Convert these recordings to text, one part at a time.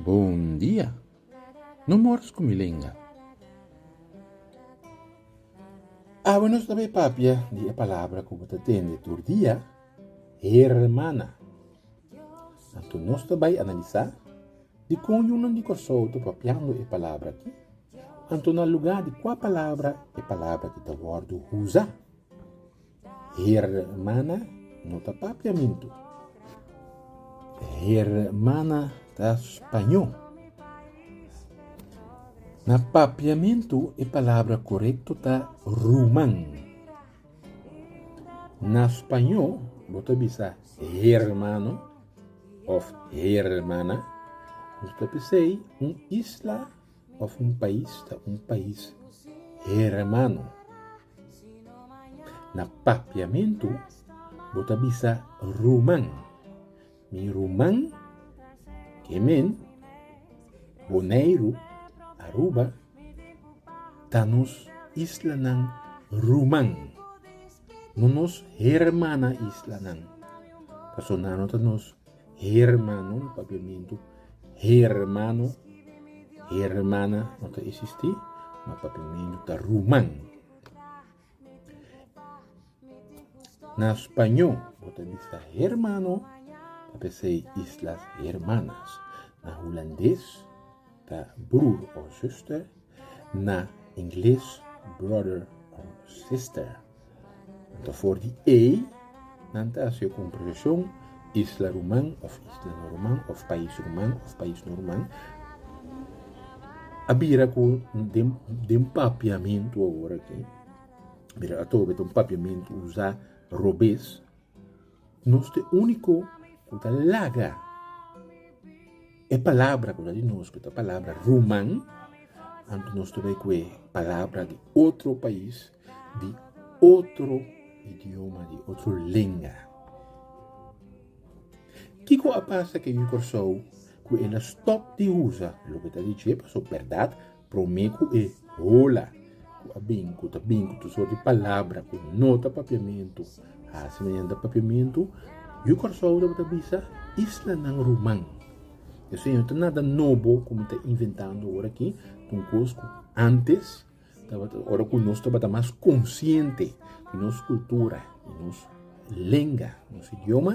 Bon dia! No mors ku mi lenga. Awe nos ta bai papia di e palabra ku bo ta tende tur dia, hermana. Anto nos ta bai analisá. Di kon yunan di Kòrsou ta propiando e palabra aki? Anto na lugá di kua palabra e palabra aki ta wòrdu usa? Hermana no ta papiamentu. Hermana ta spañó. Na papiamentu e palabra korekto ta ruman. Na spañó bo ta bisa hermano. òf hermana, nos ta bis'ei un isla òf un pais ta un pais hermano. Na papiamentu bo ta bisa ruman, mi ruman, ke men, Boneiru, Aruba, ta nos islanan ruman. no nos hermana islanan. Paso nan no ta nos hermano, no papiamento hermano, hermana no ta existi, ma papiamento ta ruman. Na spaño, bo ta bisa hermano, ta pesei islas hermanas. Na hulandes, ta broer or zuster. Na ingles, brother or sister. Anto for di ei, nan ta hasi e kompreheshon, isla ruman òf islano ruman òf pais ruman òf paisnan ruman a bira ku den den papiamentu awor aki, a bira atobe ta un papiamentu usá robes. Nos ta e úniko ku ta laga e palabra ku ta di nos, ku ta palabra ruman, anto nos ta bai ku e palabra di otro pais, di otro idioma, di otro lenga. Kiko a pasa ku Kòrsou ku e na stòp di usa loke ta di dje? Pasobra bèrdat Promé ku e hola ku a bin, ku ta bin ku tur sorti palabra ku no ta papiamentu, hasi mediante papiamentu, Yu Kòrsou tabata bisa islanan ruman. Esei no ta nada nobo ku mi ta inventando ora aki, ta un kos ku antes tabata ora ku nos tabata mas konsiente di nos kultura, di nos lenga, nos idioma.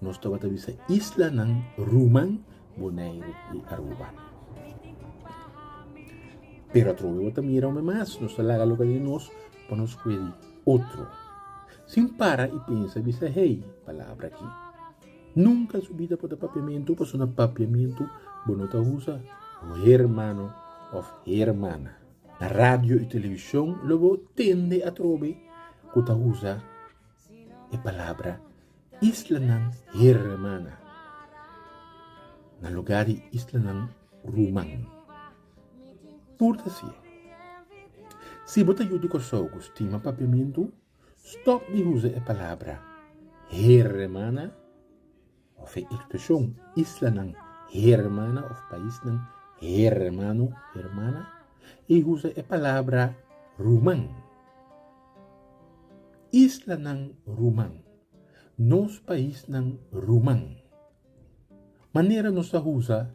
Nos tabata bisa islanan Ruman, Boneiru i Aruba. Pero atrobe bo ta mira ome mas, nos ta laga loke di nos pa nos kue di otro. Sin para i pensa bisa hei palabra aki, Nunka en su bida por ta papiamentu pasobra na papiamentu bo no ta usa hermano of hermana. Na radio i television lo bo tende atrobe ku ta usa e palabra islanan hermana na lugá di islanan ruman. Purta si e. Si bo ta yu di Kòrsou ku stima Papiamentu, stòp di usa e palabra hermana. of e institushon, islanan, hermana of paisnan, hermano, hermana, i usa e palabra ruman. Islanan ruman. Nos paisnan ruman. Manera nos ta usa.